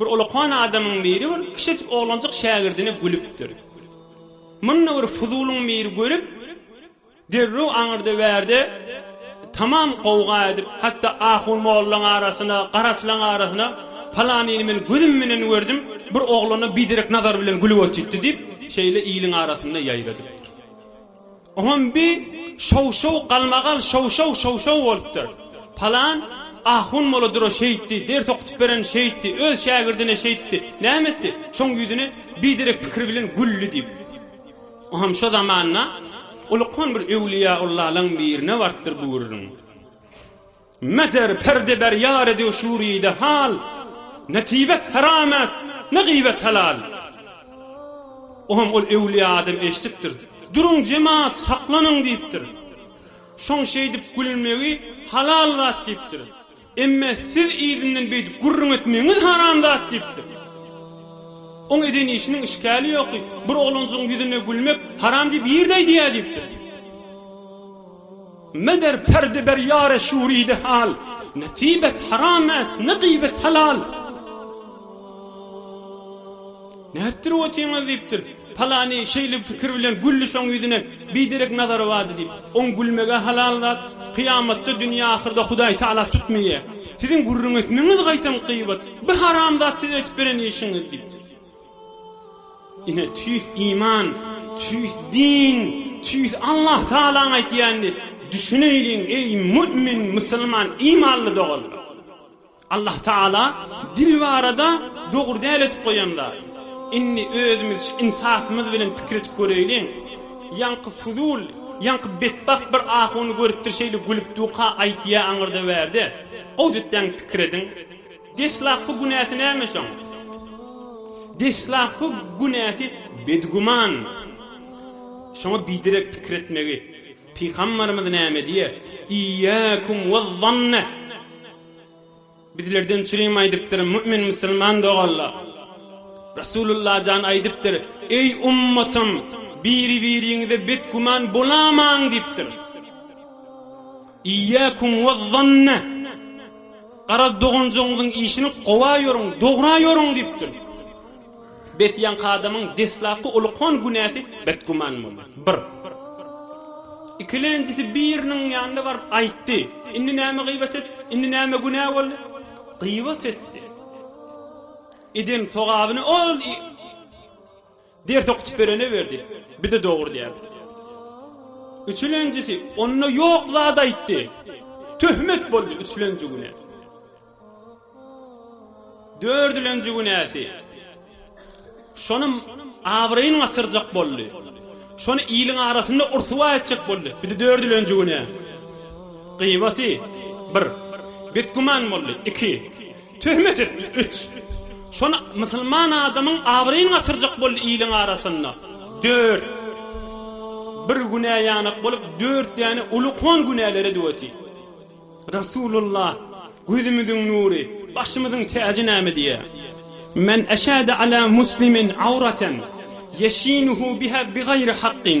Bir olakan adamyň biri bir kişejik oglanjyk şägirdine gülüpdir. Muny bir fuzulyň biri görüp, derrew aňyrda-bärde tamam gowga edip, hatda ahun mollaň arasyna, garaçlaň arasyna, Palanyny men gözüm bilen gördüm, bir oglana biderek nazar bilen gülüp otytdy diýip, şeýle iliň arasynda ýaýradypdyr. Oňam bi şow-şow galmagal şow-şow şow-şow bolupdyr. Palan ahun molodyra şeýtdi, ders okutyp beren şeýtdi, öz şägirdine şeýtdi. Näme etdi? Şoň ýüzüne biderek pikir bilen güldi diýip. Oňam şo zamanda ulkan bir öwliýäullalaň birine barypdyr bu gürrüň. Meder perde ber ýar ediw şuride hal, Ne tibet haram est, ne gybet halal. O hem ol öwlüýä adam eşdipdir, Duruň jemat, saklanyň diýipdir. Şoň şeýdip gülmegi halal zat diýipdir. Emme siz yzyndan beýdip gürrüň etmegiňiz haram zat diýipdir. Oň eden işiniň işgäli ýokdy, Bir oglanjygyň ýüzüne gülmek haram diýip ýerde aýdýa diýipdir. Meder perdi ber ýare şuridi hal, Ne tybet haram est, ne gybet halal. Nätdirip otyňyz diýipdir. Palany şeýle pikir bilen güldi şoň ýüzüne biderek nazary bardy diýip. Oň gülmegä halal zat. Kyýamatda dünýe ahyrda Hudaý Taala tutmaýa. Siziň gürrüň etmegiňiz gaýtam gybat. Bi haram zat siz edip beren işiňiz diýipdir. Ine, tüýs iman, tüýs din, tüýs Allah Tagalaň aýdýanyny düşüneýliň, eý, mu'min, musulman, imanly doganlar! Allah Tagala dil barada dogry däl edip goýan zat. Indi özümiz şu insapymyz bilen pikir edip göreýliň. Ýaňky fuzul, ýaňky betbagt bir ahuny görüpdir şeýle gülüp duka aýtýa aňyrda-bärde. Gowy düttäň pikir ediň. Deslapky günäsi näme şoň? Deslapky günäsi bedgüman. Şoňa biderek pikir etmegi Pygambarymyz näme diýýär? Iyyakum waz-zanne. Bizlerden çürim aýdypdyr, mümin musulman doganlar. Resulullah jan aýdypdyr, Eý ummatym, biri-biriňize bedgüman bolamaň diýipdir. Iyyakum we zanne. Garaz doganjygyňyzyň işini gowa ýörüň, dogra ýörüň diýipdir. Bes ýaňky adamyň deslapky ulkan günäsi betgüman boldy. Bir. Ikilenjisi biriniň ýanyna baryp aýtdy. Indi näme gyýbat et, indi näme günä boldy? Gyýbat etdi. Eden sogabyny ol Ders okutup beren öwerdi. Bize dogry däl. Üçülenjisi onda ýok zat aýtdy. Töhmet boldy üçülenji güne. Dördülenji günäsi. Şonym abraýyny gaçyrjak boldy. Şony iliň arasynda ursuwa etjek boldy. Bizi dördülenji güne. Gyýbaty 1. Betgüman boldy 2. Töhmet etdi, üç. Şony musulman adamyň abraýyny gaçyrjak boldy iliň arasynda, dört. Bir günä ýanak bolup, dört däne ulukon günälere döweti. Resulullah, gözümiziň nury, başymyzyň täji näme diýýär? Men eşhede ala muslimin awraten ýeşinuhu biha bigaýri hakkin.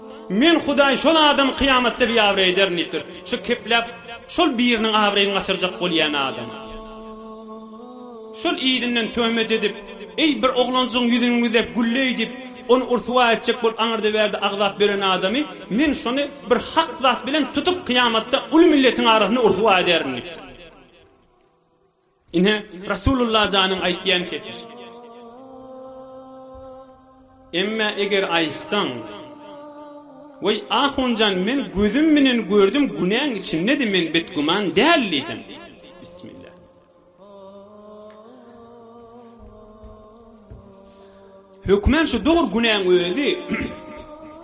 Men Hudaý şol adamy kyýamatda biabraý ederin diýipdir. Şu kepläp şol biriniň abraýyny gaçyrjak bolýan adam. Şol yzyndan töhmet edip, Eý, bir oglanjygyň ýüzüni güzep, gülleý diýip, ony ryswa etjek bolup aňyrda-bärde agzap ýören adamy Men şony bir hak zat bilen tutup kyýamatda uly milletiň arasynda ryswa ederin diýipdir. Ine, Rasulullah janyň aýtýan kepil. Emme eger aýtsaň, Weý, ahun jan, men gözüm menen gördüm, günäň içindedi, men betgüman däl diýseň. Bismillah. Hökman şu dur günäň özi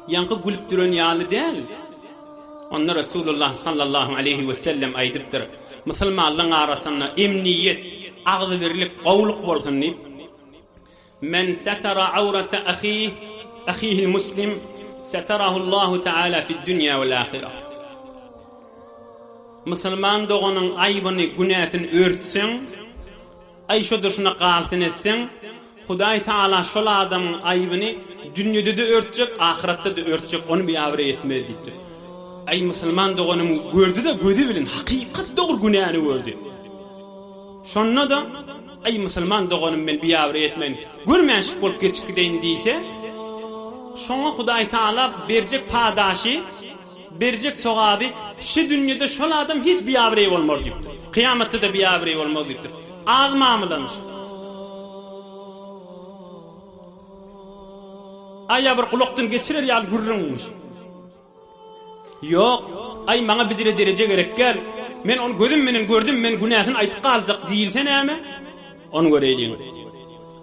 ýaňky gülüp duran ýaly däl. Onda Resulullah sallallahu aleýhi we sellem aýdypdyr, Musulmanlaryň arasynda emniýet, agzybirlik, gowulyk bolsun diýip, Men satara awrata ahih, ahihil muslim, satarahullahu taala fid dünýä wal ahirah. Musulman doganyň aýbyny, günäsini örtseň, Aý şo durşuna galsyn etseň, Hudaý Tagala şol adamyň aýbyny dünýede-de örtjek, ahyratda-da örtjek, ony biabraý etmez diýipdir. Aý musulman doganym gördi-de gözi bilen hakykat dogry günäni gördi. Şonda-da, Aý musulman doganym men biabraý etmeýin, görmänşik bolup geçip gideýin diýse, şoňa Hudaý Tagala berjek padaşy, Berjek sogaby, Şu dünýede şol adam hiç biabireý bolmaz diýipdir. Kyýamatda-da biabireý bolmaz diýipdir. Az mamylalyş. Aý ýa bir gulakdan geçirer ýaly gürrüňmiş. Ýok, aý maňa bijire dereje gerek däl. Men ony gözüm menen gördüm, men günäsini aýtyp galjak diýilse näme? Ony göreýliň.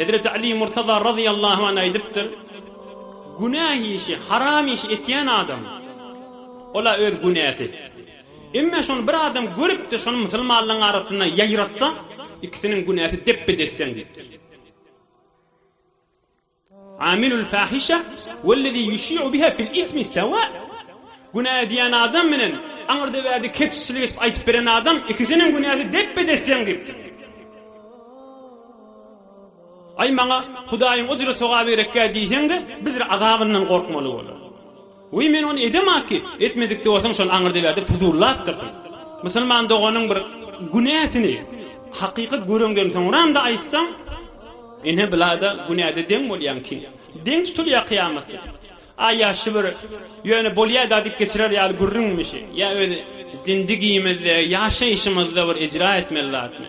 Hezreti Aly Murtaza razyýallahu anh aýdypdyr, Günäh işi, haram iş etýän adam, ol-a öz günäsi. Emma şony bir adam görüp-de, şony musulmanlaryň arasynda ýaýratsa, ikisiniň günäsi depbe-desseň diýipdir. Amilül fahişe wellezî ýuşî'u biha fil ismi sewâ, Günä edýän adam bilen aňyrda-bärde kepjiçilik edip aýdyp beren adam, ikisiniň günäsi depbe-des deň diýipdir. Aý, maňa Hudaýyň ujry-sogaby gerekkä diýseň-de, biz-de azabyndan gorkmaly bolar. Weý men ony edemaki, etmedikde bolsaň şony aňyrdaber diýip fuzullapdyrsyň. Musulman doganyň bir günäsini hakykat göreňden soňramda aýtsaň, ine bulada günäde deň bolýaň kim? Deň tutulýa kyýamatda. Aý ýaşşy bir ýöne bolýada diýip geçirer ýaly gürrüňmişi, ýa öz zindigimizde, ýaşaýşymyzda bir ejra etmeli zatmy?